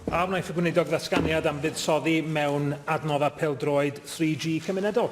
A wnaeth y Gweinidog ddatganiad am fuddsoddi mewn adnoddau pêl-droed 3G cymunedol?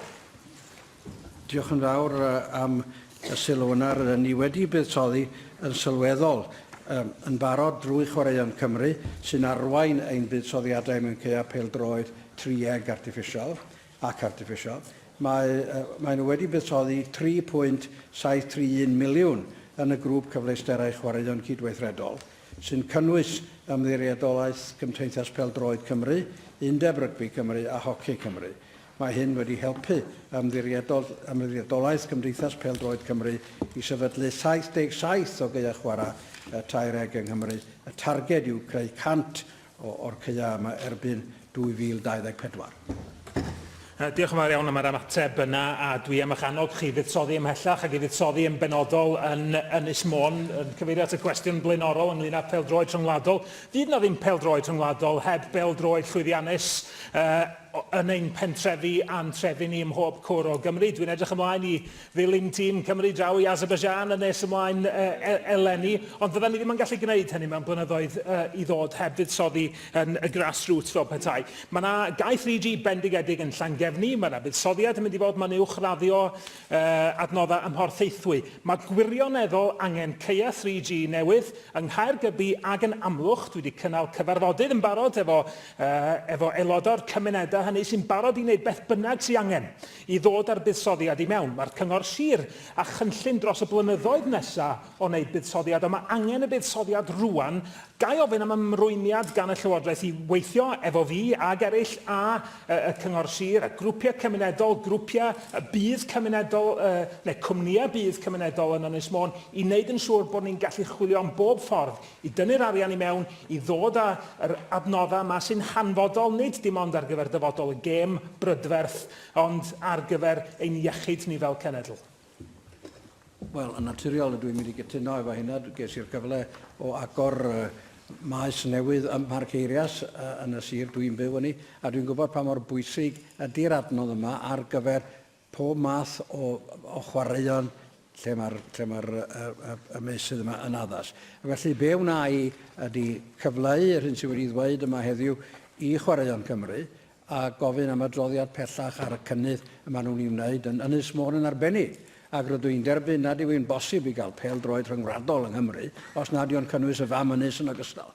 Diolch yn fawr am y sylw yna. Rydyn ni wedi buddsoddi yn sylweddol um, yn barod drwy Chwaraeon Cymru, sy'n arwain ein buddsoddiadau mewn caeau pêl-droed trieg artiffisial ac artiffisial. Mae, uh, maen nhw wedi buddsoddi 3.731 miliwn yn y grŵp cyfleusterau chwaraeon cydweithredol, sy'n cynnwys Ymddiriedolaeth Gymteithas Pêl-droed Cymru, Undeb Rygbi Cymru a Hoci Cymru. Mae hyn wedi helpu Ymddiriedolaeth Gymdeithas Pêl-droed Cymru i sefydlu 77 o gaeau chwarae tair eg yng Nghymru, y targed yw creu 100 o'r caeau yma erbyn 2024. Yy, diolch yn fawr iawn am yr ymateb yna, a dwi am eich annog chi i fuddsoddi ymhellach ac i fuddsoddi yn benodol yn Ynys Môn, yn cyfeirio at y cwestiwn blaenorol ynglyn â pêl-droed rhyngwladol. Fydd yna ddim pêl-droed rhyngwladol heb bêl-droed llwyddiannus uh, yn ein pentrefi a'n trefi ni ym mhob cwr o Gymru. Dwi'n edrych ymlaen i Ddylem tîm Cymru draw i Azerbaijan yn nes ymlaen eleni, ond fyddan ni ddim yn gallu gwneud hynny mewn blynyddoedd i ddod heb fuddsoddi yn y grassroots fel petai. Mae yna gae 3G bendigedig yn Llangefni, mae yna fuddsoddiad yn mynd i fod, mae'n uwchraddio adnoddau ym Mhorthaethwy. Mae gwirioneddol angen caeau 3G newydd yng Nghaergybi ac yn Amlwch. Dwi wedi cynnal cyfarfodydd yn barod efo efo aelodau'r cymunedau hynny sy'n barod i wneud beth bynnag sy'n angen I ddod â'r buddsoddiad i mewn, mae'r Cyngor Sir a chynllun dros y blynyddoedd nesa o wneud buddsoddiad, ond mae angen y buddsoddiad rŵan. Ga i ofyn am ymrwymiad gan y Llywodraeth i weithio efo fi ag eraill a y, y Cyngor Sir, a grwpiau cymunedol, grwpiau y budd cymunedol, y, neu cwmnïau budd cymunedol yn Ynys Môn, i wneud yn siŵr bod ni'n gallu chwilio am bob ffordd i dynnu'r arian i mewn i ddod â yr adnoddau yma sy'n hanfodol nid dim ond ar gyfer dyfodol y gêm brydferth ond ar gyfer ein iechyd ni fel cenedl. Wel, yn naturiol dw i'n mynd i gytuno efo hynna. Ges i'r cyfle o agor maes newydd ym Mharc Eirias yn y sir dw i'n byw yni a dwi'n gwybod pa mor bwysig ydi'r adnodd yma ar gyfer pob math o o chwaraeon lle mae'r lle mae'r y, y, y meysydd yma yn addas. Ac felly be wna i ydy cyfleu yr hyn sydd wedi ddweud yma heddiw i Chwaraeon Cymru a gofyn am adroddiad pellach ar y cynnydd y maen nhw'n ei wneud yn Ynys Môn yn arbennig. Ac rydw i'n derbyn nad yw'n bosib i gael pel-droed rhyngwladol yng Nghymru os nad yw'n cynnwys y fam ynys yn ogystal.